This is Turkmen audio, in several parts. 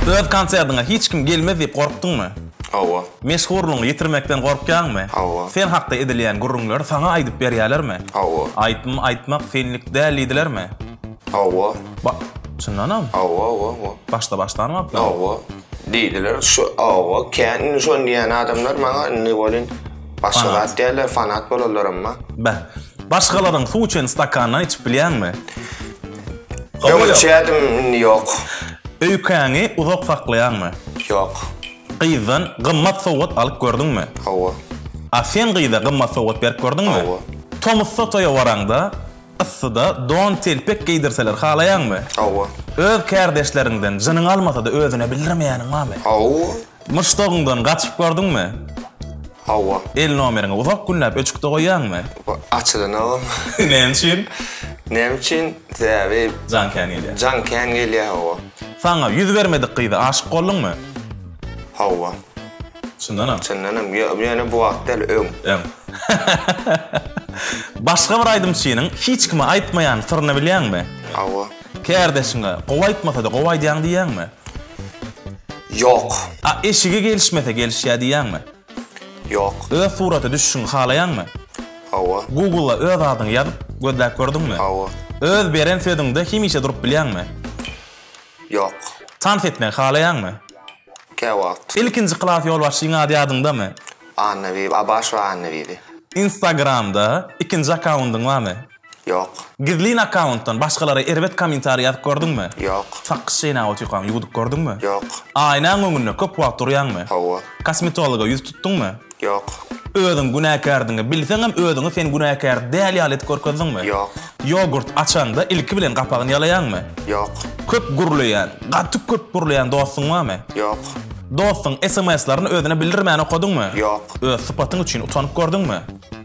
Öz konsertiňe hiç kim gelmez diýip gorkduňmy? Hawa. Meşhurlygyňy ýitirmekden gorkýaňmy? Hawa. Sen hakda edilýän gürrüňleri saňa aýdyp berýärlermi? Hawa. Aýtym aýtmak senlik däl diýdilermi? Hawa. Ba, çyndanam? Hawa, hawa, hawa. Başda başlanmapdym. Hawa. Diýdiler. Şu, hawa, kän indi şony diýýän adamlar maňa indi welin başga zat diýerler, fanat bolanlaram bar. Beh. Başgalaryň suw içen stakanyndan içip bilýäňmi? Öňürçädim, indi ýok. Öýkäňi uzak saklaýaňmy? Ýok. Gyzdan gymmat sowgat alyp gördüňmi? Hawa. A sen gyza gymmat sowgat berip gördüňmi? Hawa. Tomusda toýa baraňda, yssyda don-telpek geýdirseler halaýaňmy? Hawa. Öz kärdeşleriňden jynyň almasa-da özüne bildirmeýäniň barmy? Hawa. Muşdagyňdan gaçyp gördüňmi? Hawa. El nomeriňi uzak günläp öçükde goýýaňmy? Açylanogam. Näme üçin? Näme üçin? Sebäbi. Jaň kän gelýär. Jaň kän gelýär, hawa. Saňa ýüz bermedik gyza aşyk bolduňmy? Hawa. Çyndanam? Çyndanam. Ýöne bu wagt däl, öň. Öň. Başga bir aýdymçynyň hiç kime aýtmaýan syryny bilýäňmi? Hawa. Kärdeşiňe, gowy aýtmasa-da, gowy aýdýaň diýýäňmi? Ýok. A eşigi gelişmese, gelişýär diýýäňmi? Ýok. Öz surata düşüşiňi halaýaňmy? Hawa. Google-a öz adyňy ýazyp, gözläp gördüňmi? Hawa. Öz beren sözüňde hemişe durup bilýäňmi? Ýok. Tans etmegi halaýaňmy? Käwagt. Ilkinji klas ýolbaşçyň ady ýadyňdamy? Annabibi, Abaşewa Annabibi. Instagram-da ikinji akkaundyň barmy? Ýok. Gizlin akkauntdan başgalara erbet kommentariý ýazyp gördüňmi? Ýok. Sakgyç çeýnäp otyrkaň ýuwudyp gördüňmi? Ýok. Aýnaň öňünde köp wagt durýaňmy? Hawa. Kosmetologa ýüz tutduňmy? Ýok. Özüň günäkärdigiňi bilseňem özüňi sen günäkär däl ýaly edip görkezdiňmi? Ýok. Ýogurt açaňda ilki bilen gapagyny ýalaýaňmy? Ýok. Köp gürleýän, gaty köp gürleýän dostuň barmy? Ýok. Dostuň sms-lerini özüne bildirmän okadyňmy? Ýok. Öz sypatyň üçin utanyp gördüňmi?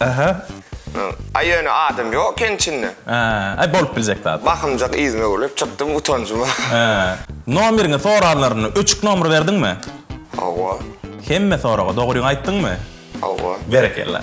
Aha. Aý ýöne adam ýok eken içinde. Aý bolup biljek zat. Bakymjak yzyna öwrülip çykdym utanjyma. Nomeriňi soranlarynda öçük nomer berdiňmi? Hawa. Hemme soraga dogryňy aýtdyňmy? Hawa. Berekella.